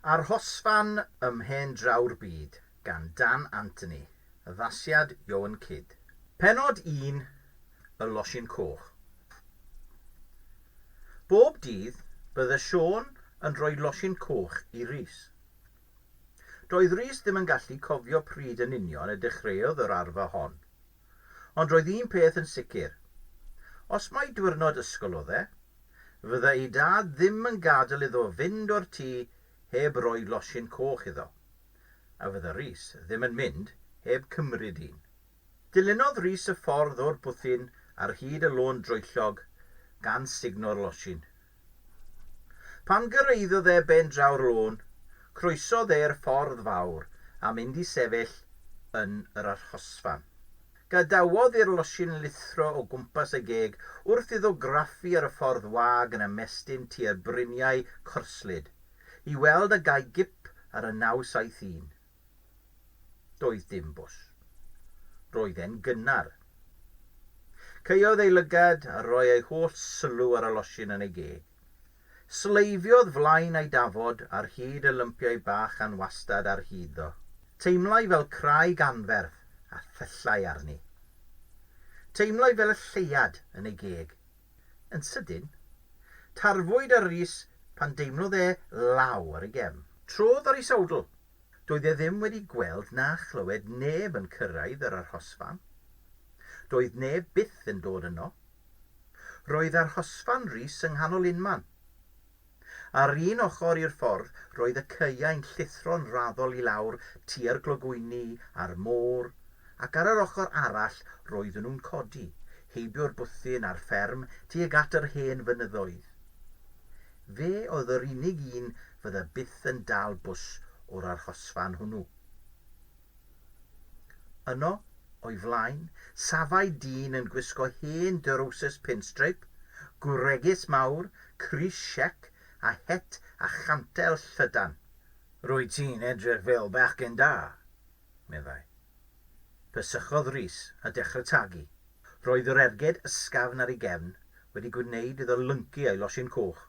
Arhosfan ym mhen draw'r byd gan Dan Anthony, addasiad Ioan Cid. Pennod un, Y Losin Coch. Bob dydd, bydde Siôn yn rhoi losin coch i Rhys. Doedd Rhys ddim yn gallu cofio pryd yn union y dechreuodd yr arfer hon. Ond roedd un peth yn sicr. Os mai diwrnod ysgol oedd e, fydda ei dad ddim yn gadael iddo fynd o'r tŷ heb roi losin coch iddo. A fydda Rhys ddim yn mynd heb cymryd un. Dilynodd Rhys y ffordd o'r bwthyn ar hyd y lôn droellog, gan sugno'r losin. Pan gyrraeddodd e ben draw'r lôn, croesodd e'r ffordd fawr a mynd i sefyll yn yr arhosfan. Gadawodd i'r losin lithro o gwmpas y geg wrth iddo graffu ar y ffordd wag yn ymestyn tua'r bryniau corslyd, i weld a gai gip ar y 971. Doedd dim bws. Roedd e'n gynnar. Caeodd ei lygad a roi ei holl sylw ar y losin yn ei geg. Sleifiodd flaen a'i dafod ar hyd y lympiau bach anwastad ar hyd ddo. Teimlai fel craig anferth a thyllai arni. Teimlai fel y lleuad yn ei geg. Yn sydyn, tarfwyd ar Rhys pan deimlodd e law ar ei gefn. Trodd ar ei sowdl. Doedd e ddim wedi gweld na chlywed neb yn cyrraedd yr arhosfan. Doedd neb byth yn dod yno. Roedd arhosfan Rhys yng nghanol unman. Ar un ochr i'r ffordd roedd y caeau'n llithro'n raddol i lawr tua'r clogwyni a'r môr, ac ar yr ochr arall roedden nhw'n codi, heibio'r bwthyn a'r fferm tuag at yr hen fynyddoedd. Fe oedd yr unig un fydda byth yn dal bws o'r arhosfan hwnnw. Yno, o'i flaen, safai dyn yn gwisgo hen drowsus pinstripe, gwregys mawr, Chris Sheck a het a chantel llydan. Rwyt ti'n edrych fel bechgyn da, meddai. Pyssychodd Rhys a dechrau tagu. Roedd yr erged ysgafn ar ei gefn wedi gwneud iddo lyncu ei losin coch.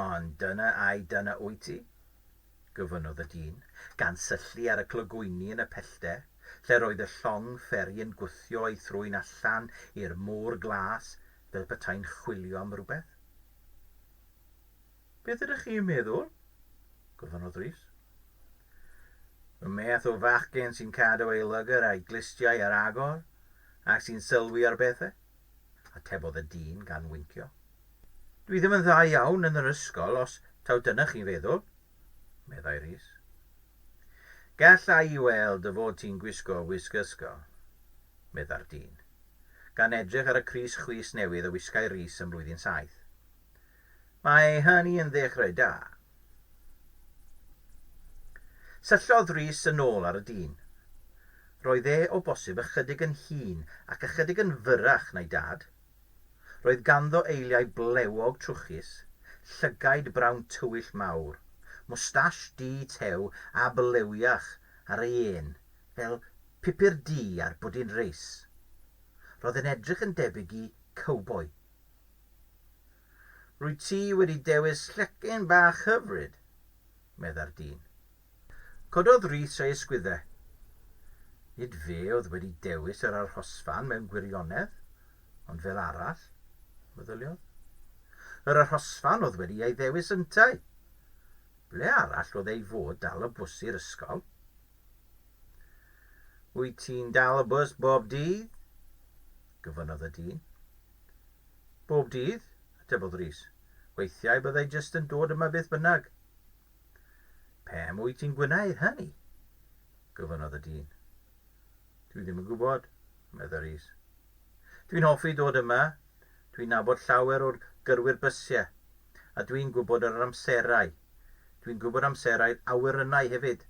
Ond dyna ai dyna wyt ti? gofynnodd y dyn, gan syllu ar y clogwyni yn y pellter, lle'r oedd y llong fferi yn gwthio ei thrwyn allan i'r môr glas fel petai'n chwilio am rywbeth. Beth ydych chi'n meddwl? gofynnodd Rhys. Y math o fachgen sy'n cadw ei lygr a'i glustiau ar agor ac sy'n sylwi ar bethau, atebodd y dyn gan wincio. Dwi ddim yn dda iawn yn yr ysgol, os taw dyna chi'n feddwl, meddai Rhys. Galla i weld dy fod ti'n gwisgo wisg ysgol, meddai'r dyn. gan edrych ar y crys chwys newydd y wisgai Rhys ym mlwyddyn saith. Mae hynny yn ddechrau da. Syllodd Rhys yn ôl ar y dyn. Roedd e o bosib ychydig yn hŷn ac ychydig yn fyrrach na'i dad. Roedd ganddo eiliau blewog trwchus, llygaid brown tywyll mawr, mwstash du tew a blywiach ar ei ên, fel Pupur du ar bwdin reis. Roedd e'n edrych yn debyg i cowboi. Rwyt ti wedi dewis llecyn bach hyfryd, medda'r dyn. Cododd Rhys ei ysgwyddau. Nid fe oedd wedi dewis yr arhosfan mewn gwirionedd, ond fel arall, meddyliodd. Yr arhosfan oedd wedi ei ddewis yntau! Ble arall oedd ei fod dal o bws i'r ysgol? Wyt ti'n dal y bws bob dydd? gofynnodd y dyn. Bob dydd, atebodd Rhys. Weithiau byddai jyst yn dod yma beth bynnag. Pam wyt ti'n gwneud hynny? gofynnodd y dyn. Dwi ddim yn gwybod, meddai Rhys. Dwi'n hoffi dod yma, dwi'n nabod llawer o'r gyrwyr bysiau, a dwi'n gwybod yr amserau. Dwi'n gwybod amserau'r awyrennau hefyd.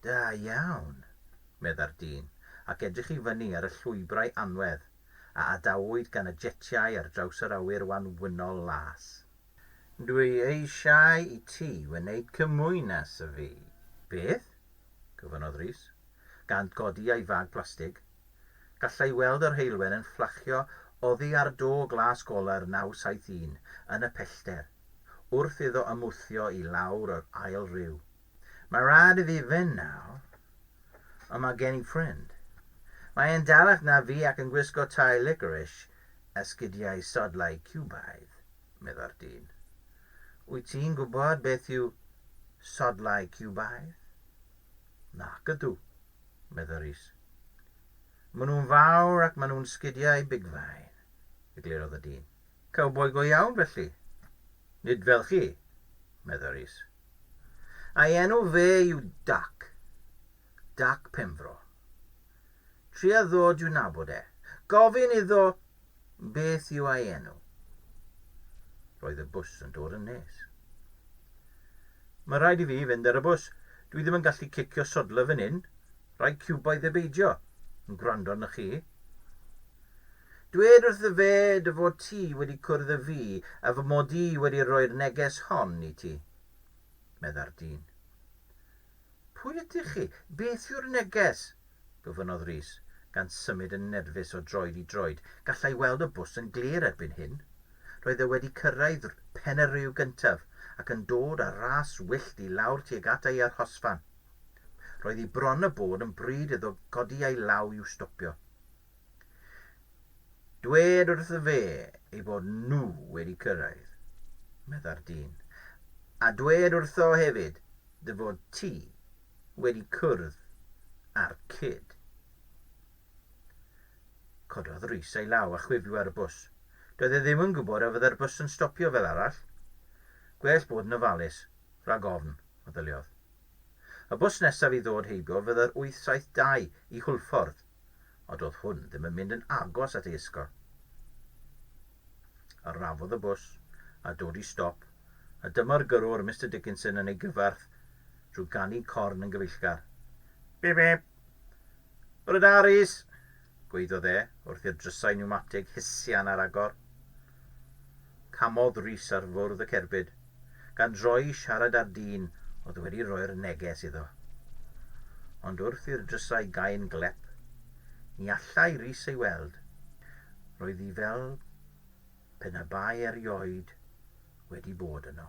Da iawn, meddai'r dyn, ac edrych i fyny ar y llwybrau anwedd a adawyd gan y jetiau ar draws yr awyr wanwynol las. Dwi eisiau i ti wneud cymwynas â fi. Beth? gofynnodd Rhys, gan godi ei fag plastig. Gallai weld yr heulwen yn fflachio oddi ar do glas goler 971 yn y pellter, wrth iddo ymwthio i lawr yr ail riw. Mae rhaid i fi fynd nawr, ond mae gen i ffrind. Mae e'n dalach na fi ac yn gwisgo tai licorice a sgidiau sodlau Ciwbaidd, medda'r dyn. Wyt ti'n gwybod beth yw sodlau Ciwbaidd? Nac ydw, medda Rhys. Maen nhw'n fawr ac maen nhw'n sgidiau bigfain, eglurodd y dyn. Cowboi go iawn felly? Nid fel chi, medda Rhys. A'i enw fe yw Dac. Dac Penfro. Tria ddod i'w nabod e. Gofyn iddo beth yw a'i enw. Roedd y bws yn dod yn nes. Mae rhaid i fi fynd ar y bws. Dwi ddim yn gallu cicio sodla fan hyn. Rai ciwboedd e beidio yn gwrando arnoch chi. Dwed wrth ddy fed dy fod ti wedi cwrdd â fi a fy mod i wedi rhoi'r neges hon i ti, medda'r dyn. Pwy ydych chi? Beth yw'r neges? gofynnodd Rhys, gan symud yn nerfus o droed i droed. Gallai weld y bws yn glir erbyn hyn. Roedd e wedi cyrraedd Pen-y-ryw gyntaf ac yn dod â rhas wyllt i lawr tuag at ei arhosfan. Roedd hi bron a bod yn bryd iddo godi ei law i'w stopio. Dwed wrtho fe ei bod nhw wedi cyrraedd, medda'r dyn. A dwed wrtho hefyd dy fod ti wedi cwrdd â'r cyd. Cododd Rhys ei law a chwifio ar y bws. Doedd e ddim yn gwybod a fyddai'r bws yn stopio fel arall. Gwell bod yn ofalus, rhag ofn, meddyliodd. Y bws nesaf i ddod heibio fydde'r 872 i Hwlffordd, ond doedd hwn ddim yn mynd yn agos at ei ysgol. Arafodd y bws, a dod i stop, a dyma'r gyrrwr Mister Dickinson yn ei gyfarth drwy ganu corn yn gyfeillgar. Bip-bip! Bore da, Rhys! Gweiddodd e, wrth i'r drysau niwmatig hisian ar agor. Camodd Rhys ar fwrdd y cerbyd, gan droi i siarad â'r dyn oedd wedi rhoi'r neges iddo. Ond wrth i'r drysau gau'n glep, ni allai Rhys ei weld. Roedd hi fel pe na bai erioed wedi bod yno.